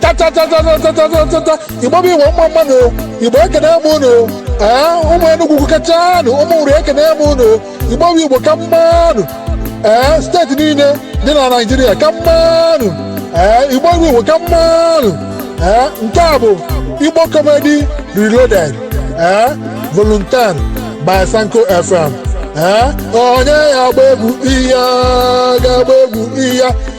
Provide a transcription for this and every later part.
tatatatatatatatatata igbo bụ igbo mma mma nụ igbo ekene m unu ee ụmụ enugwu kachanụ ụmụ nri ekene m unu igbo bụ igbo ka mma nụ ee steeti niile dị na naijiria ka mma nụ ee igbo bụ igbo ka mma nụ ee nke a bụ igbo comedy reloaded ee volume ten by sanko fm ee onye ya-agba egwu iya ga-agba egwu iya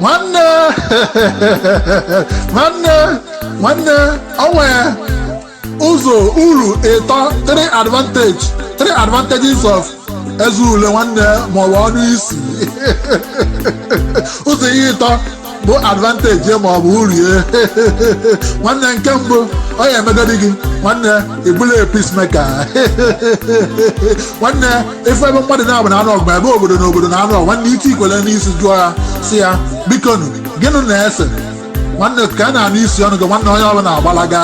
nwanne nwanne nwanne o nwe ụzọ uru ịtọ three advantage three advantages of eze ule nwanne maọbụ ọnụ isi ụzọ ihe ịtọ bụ advantage maọbụ uru ya nwanne nke mbụ ọ ya-emegodi gị nwanne ị bụlụ peacemaker nwanne ị fụ ebe mmadụ naabụ na-anụ ọgụ ebe obodo na obodo na-anụ ọgụ nwanne iti ikwele n'isi jụọ ya sị ya biko nụ gịnụ na-ese nwanne ka a na-anụ isi ọnụ gị nwanne onye ọbụla agbalaga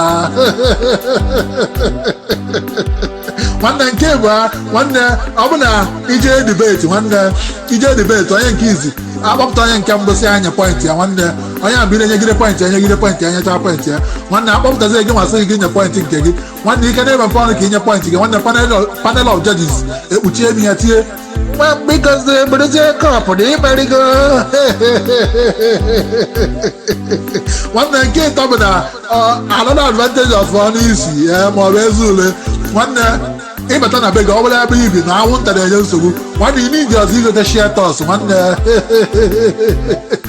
nwanne nke ịbụọ nwanne ọ bụ na i je debate nwanne i je debate onye nke izizi a kpọpụta onye nke mbụ sị ya nye pọintị ya nwanne onye ahụ na-enyegide pọintị ya nyegide pọintị ya nyecha pọintị ya nwanne a kpọpụtazi gị ma sị gị nye pọintị nke gị nwanne ị ka na-emepe ọnụ ka i nye pọint gị nwanne panel of judges ekpuchie imi ya tie mgbamgbikozi bụrụzie kọpụ na i merigo nwanne nke ịtọ bụ na another advantage of ọnụ isi maọbụ eze ule nwanne ị bata na be gị ọ bụlụ ebe i bi na anwụnta na-enye nsogbu nwanne ị n'iji ọzọ igote Sheltox nwanne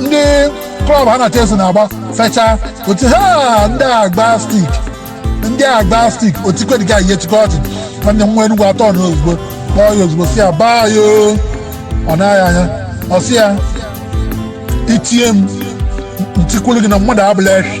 ndị klọb ha na Chelsea na-agba fecha otu ha ndị agba stik ndị agba stik otikwediga ihe chikọ ọchị nwanne nwa Enugu atọ na ozugbo kpọọ ya ozugbo sị ya Bayo ọ naghị anya ọ sị ya i tie m m tikwuru gị na mmadụ abụrọ ekwe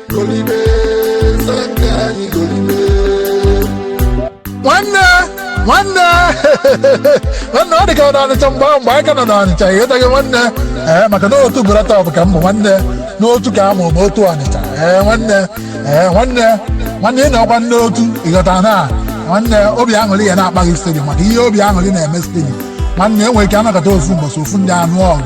nwanne nwanne nwanne ọ dị ka ọ n'ọnịcha mgbe ahụ mgbe anyị ka nọ n'ọnịcha ịghọtaghị nwanne ee maka na otu bụrata ọ bụ ka m bụ nwanne n'otu ka a mụrụ m otu ọnịcha ee nwanne ee nwanne nwanne ị na-akwa nne otu ịghọta na nwanne obi aṅụrị ya na-akpaghị stadium maka ihe obi aṅụrị na-eme stadium nwanne e nwere ike anakọta ofu mbọsị ofu ndị anụ ọrụ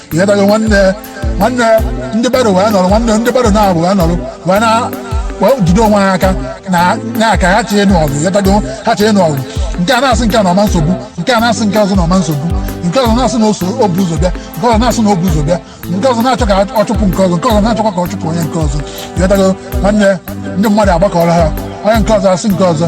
ihe bere nwanne nwanne ndị bere wee nọrọ nwanne ndị bere naabụ wee nọrọ wee na wee jide onwe ha aka na na aka ha chọ ịnụ ọgụ ịghọtago ha chọ ịnụ ọgụ nke a na-asị nke a na ọma nsogbu nke a na-asị nke ọzọ na ọma nsogbu nke ọzọ na-asị na oso o bu ụzọ bịa nke ọzọ na-asị na o bu ụzọ bịa nke ọzọ na-achọ ka ọ chụpụ nke ọzọ nke ọzọ na-achọkwa ka ọ chụpụ onye nke ọzọ ịghọtago nwanne ndị mmadụ agbakọrọ ha onye nke ọzọ asị nke ọzọ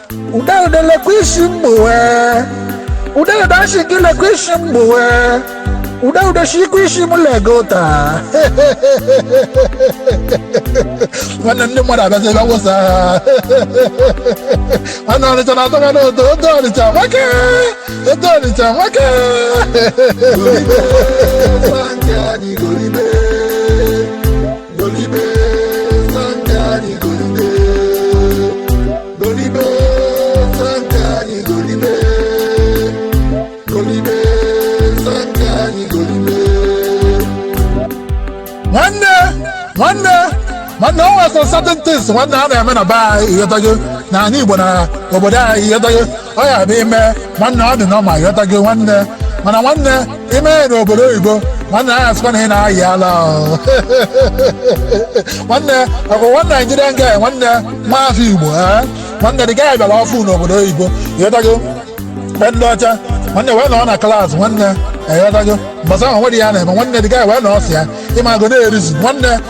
Udegede lekwa isi mgbowe Udegede asị gị lekwa isi mgbowe Udegede si ikwu isi m lega ụta nwanne ndị mmadụ abịazi ebe a wụsa ha nwanne ọnịcha na-atọga n'odo odo ọnịcha nwoke odo ọnịcha nwoke Golibe, golibe, nwanne nwanne nwanne o nwere some certain things nwanne a na-eme na be anyị ịghọtago na anị igbo na obodo anyị ịghọtago ọ ya bụ i mee nwanne ọ dị nọma ịghọtago nwanne mana nwanne i mee ya n'obodo oyibo nwanne a sịkwa na ị na-ayị ala o. nwanne ọkwa nwa naijiria nga nwanne nwa afọ igbo ee nwanne the guy bịara ọfụụ n'obodo oyibo ịghọtago mgbe ndị ọcha nwanne wee nọ na klaasị nwanne ịghọtago mbọsị ahụ nwere ihe a na-eme nwanne the guy wee nọ ọsị ya ịmago na-ereason nwanne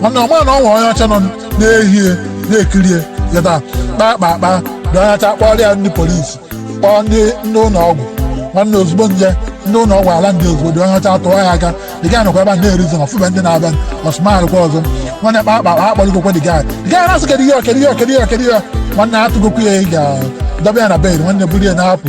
nwanne ọ ma na o nwe onye ọcha nọ n'ehihie na-ekirie ya taa kpaa kpaa kpaa the onye ọcha kpọrọ ya ndị polisi kpọọ ndị ndị ụlọ ọgwụ nwanne ozugbo ndị ndị ụlọ ọgwụ a land ozugbo the onye ọcha tụọ ya aka the guy nọkwa ebe a na-ereason ọ fụba ndị na-abịa ọ smile kwa ọzọ nwanne kpaa kpaa kpaa akpọrịgokwa the guy the guy na-asị kedu ihe ọ, kedu ihe ọ, kedu ihe ọ, kedu ihe ọ. nwanne atụgokwu ya ịga dọba ya na bed nwanne buru ya na-apụ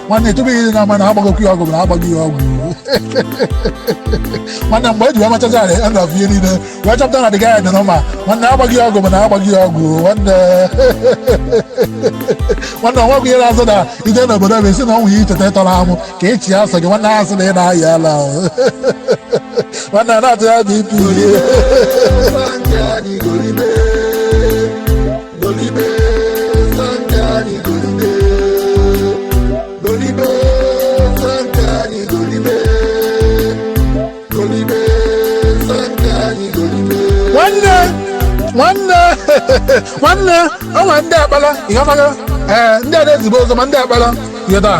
nwanne tupu ị na-ama na agbagokwu ya ọgwụ bụ na agbaghị ya ọgwụ nwanne mgbe e ji wee mechazi ala end of ihe niile wee chọpụta na the guy dị nọma nwanne agbaghị ya ọgwụ bụ na agbaghị ya ọgwụ nwanne nwanne ọnwegwụ ihe na-azụ na ije n'obodo bụ esi na ọnwụ ya i cheta ihe tọrọ amụ ka ị chịa sọ gị nwanne ha sị na ị na-ayị ala o. nwanne a na-atụ ya bụ ipi nwanne nwanne nwanne ọnwa ndị akpala ịghọtago ee ndị a na-ezibe ozo ma ndị akpala ihe taa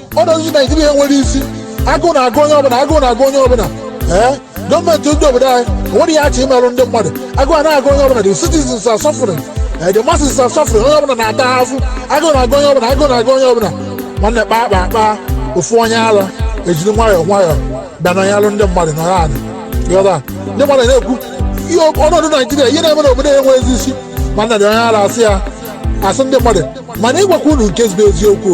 ọnọdụ naijiria enwerọ isi agụụ na-agụ onye ọbụla agụụ na-agụ onye ọbụla ee gọọmenti ndị obodo anyị enweghị ihe ha chọ imerụ ndị mmadụ agụụ a na-agụ onye ọbụla the citizens are suffering ee the masses are suffering onye ọbụla na-ata afụfụ agụụ na-agụ onye ọbụla agụụ na-agụ onye ọbụla nwanne kpaa kpaa kpaa ofu onye ara ejiri nwayọọ nwayọọ bịa na alụ ndị mmadụ nọrọ anị ghọta ndị mmadụ na-ekwu ihe ọnọdụ naijiria ihe na-eme n'obodo enwezi isi mana the onye ara asị ya asị ndị mmadụ mana ịgwakwa unu nke bụ eziokwu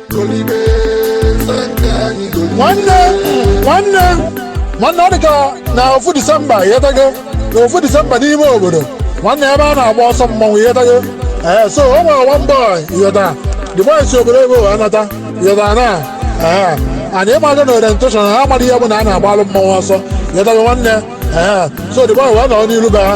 nwanne nwanne nwanne ọ dị ka na ofu disemba ịghọtago na ofu disemba n'ime obodo nwanne ebe a na-agba ọsọ mmọnwụ ịghọtago ee so o nwere one boy ịghọta the boy si obodo ebe wee nata ịghọta na ee anyị ịmago na orientation ha amaghị ihe bụ na a na-agbalụ mmọnwụ ọsọ ịghọtago nwanne ee so the boy wee nọ n'iru be ha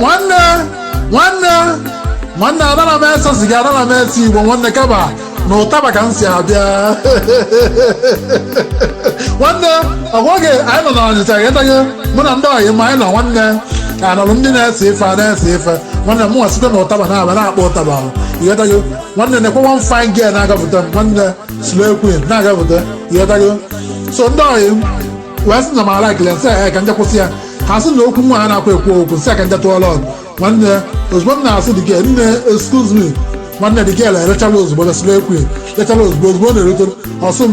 nwanne nwanne nwanne adara m ese siga adara m ese igbo nwanne kama na ụtaba ka m si abịa nwanne ọgwaghị anyị nọ na ọnịcha ịghọtago mụ na ndị ọyị m anyị nọ nwanne anọrụ ndị na-ese ife a na-ese ife nwanne m nwa site na ụtaba na-abịa na-akpọ ụtaba ịghọtago nwanne nekwa one fine girl na-agapụta m nwanne slay queen na-agapụta ịghọtago so ndị ọyị m wee sị na m ala ekele m sị ha ka m je kwụsị ya ha sị na okwu nwa ha na-akwa ekwu okwu m sị ha ka m je tụọ lọg nwanne ozugbo m na-asị the girl nne excuse me nwanne the girl elechala ozugbo na slay queen lechala ozugbo ozugbo ọ na-erute m ọsụ m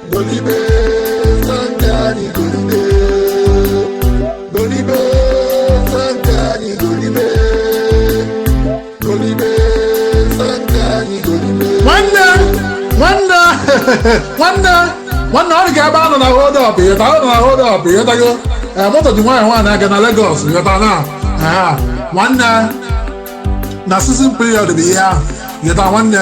nwanne nwanne ọ dị ka ebe a nọ na hold up ịghọta ọ nọ na hold up ịghọtago ee moto ji nwaanyị nwaanyị aga na Lagos ịghọta na nwanne na season period bụ ihe ahụ ịghọta nwanne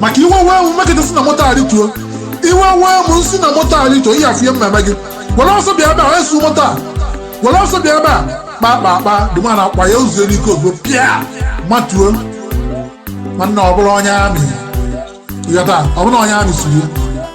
maka iwe wee m m mekata si na moto arịtuo iwe wee m m si na moto arịtuo ihe afụnye m na-eme gị were ọsọ bịa ebe a esu moto a were ọsọ bịa ebe a kpa kpa kpa the man akpa ya ụzọ n'ike ozugbo pịa matuo nwanne ọ bụrụ onye army ịghọta ọ bụrụ na onye army siri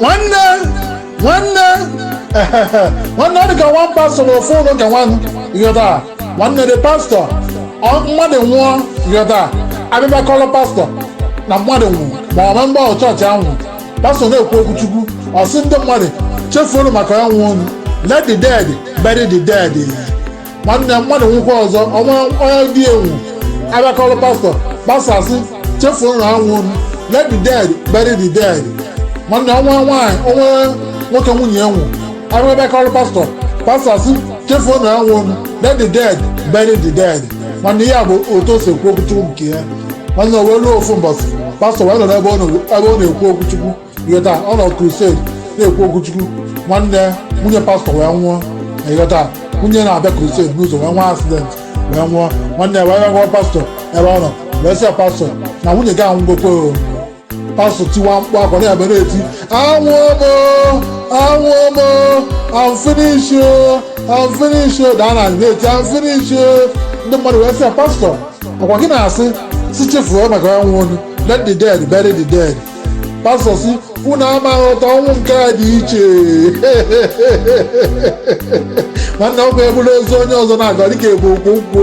nwanne nwanne nwanne ọ dị ka one pastọ nọ n'ofu ụlọ ụka nwanne ịghọta nwanne the pastọ ọ- mmadụ nwụọ ịghọta a bịa kọrọ pastọ na mmadụ nwụrụ ma ọ bụ member of chọọchị ahụ pastọ na-ekwu okwu chukwu ọ sị ndị mmadụ chefuonu maka ya nwụọnụ let the dead bury the dead nwanne mmadụ nwụkwa ọzọ o nwee onye di ya nwụrụ a bịa kọrọ pastọ pastọ asị chefuonu ha nwụọnụ let the dead bury the dead nwanne o nwee nwaanyị o nwee nwoke nwunye ya nwụ rụ a bịa kọrọ pastọ pastọ asị chefuonu ha nwụọnụ let the dead bury the dead nwanne ya bụ otu o si ekwu okwuchukwu nke ya nwanne o wee ruo ofu mbọsị pastọ wee nọrọ ebe ọ na- ebe ọ na-ekwu okwuchukwu ịghọta ọ nọ crusade na-ekwu okwuchukwu nwanne nwunye pastọ wee nwụọ ịghọta nwunye na-abịa crusade n'ụzọ wee nwee accident wee nwụọ nwanne ya wee gwa pastọ ebe ọ nọ wee sị ya pastọ na nwunye gị anwụgokwa o pastọ tiwa mkpu akwa na-ebe na-eti anwụọ m o anwụọ m o I'm finish o I'm finish o daa na anị na-eti I'm finish o ndị mmadụ wee sị ya pastọ ọkwa gị na-asị sị chefuo maka ọnwụ onye let the dead bury the dead pastọ si unu ama aghọta ọnwụ nke a dị iche nwanne ọkwa ebulu ozu onye ọzọ na-aga ọ dịka ebu ukwu nkụ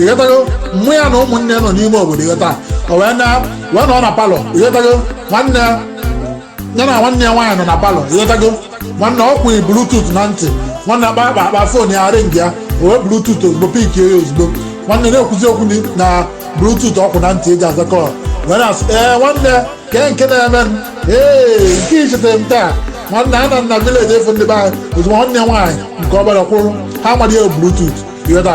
ịghọtago mụ ya na ụmụnne nọ n'ime obodo ịghọta o wee na wee nọ na palọ ịghọtago nwanne ya ya na nwanne ya nwaanyị nọ na palọ ịghọtago nwanne ọ kwụnye bluetooth na ntị nwanne akpa akpa akpa fon ya ring ya o wee bluetooth ozugbo pik ya ozugbo nwanne na-ekwuzi okwu ni- na bluetooth ọ kwụ na ntị eji aza kọl wee na-asị ee nwanne kee nke na-eme m ee nke ichetere m taa nwanne anọ m na vileji afụ ndị be anyị ozugbo nwanne ya nwaanyị nke ọbara kwụrụ ha mara ya bluetooth ịghọta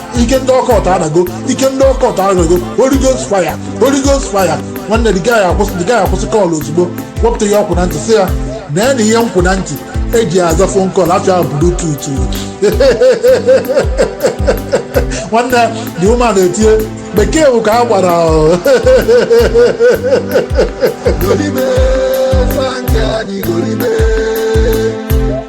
ike ndị occult adago ike ndị occult adago Holy Ghost fire Holy Ghost fire nwanne the guy akwụsị the guy akwụsị kọl ozugbo wepụta ihe ọ kwụ na ntị sị ya na ya na ihe m kwụ na ntị eji aza fon kọl afa ya bluetooth nwanne the woman etie bekee bụ kwa agbara Golibe, sanka ni golibe.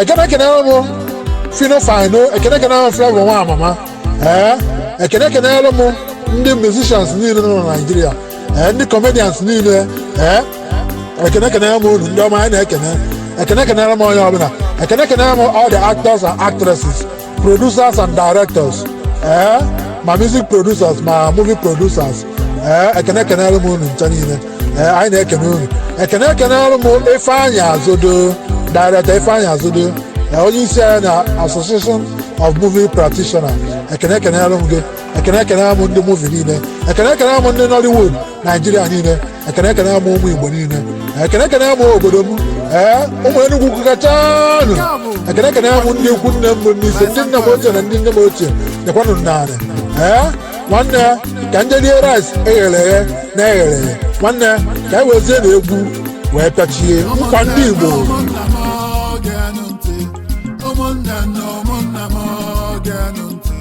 ekene ekenelu m phyno fino ekene ekenelu m flavour nwa amama ee ekene ekenelu m ndị musicians niile nọ na naijiria ee ndị comedians niile ee ekene ekenelu m unu ndị ọma anyị na-ekene ekene ekenelu m onye ọbụla ekene ekenelu m all the actors and actresses producers and directors ee ma music producers ma movie producers ee ekene ekenere m unu ncha niile ee anyị na-ekene unu ekene ekenere m ifeanyị azodo director ifeanyị azodo onye isi anyị na association of movie practitioner ekene ekenere m gị ekene ekenere m ndị movie niile ekene ekenere m ndị nollywood naijiria niile ekene ekene m ụmụ igbo niile ekene ekene m obodo m ee ụmụ enugwu ukwu kachanụ ekene ekene m ndị ikwu nne m bụ nise ndị nna m ochie na ndị nne m ochie dịkwanụ narị ee nwanne ka nje rie rice eghere eghe na eghere eghe nwanne ka anyị wezie na egwu wee pịachie nkwa ndị igbo ụmụnna m geenụ ntị ụmụnne na ụmụnna m geenụ ntị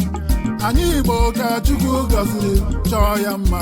anyị igbo ka chukwu gọziri chọọ ya mma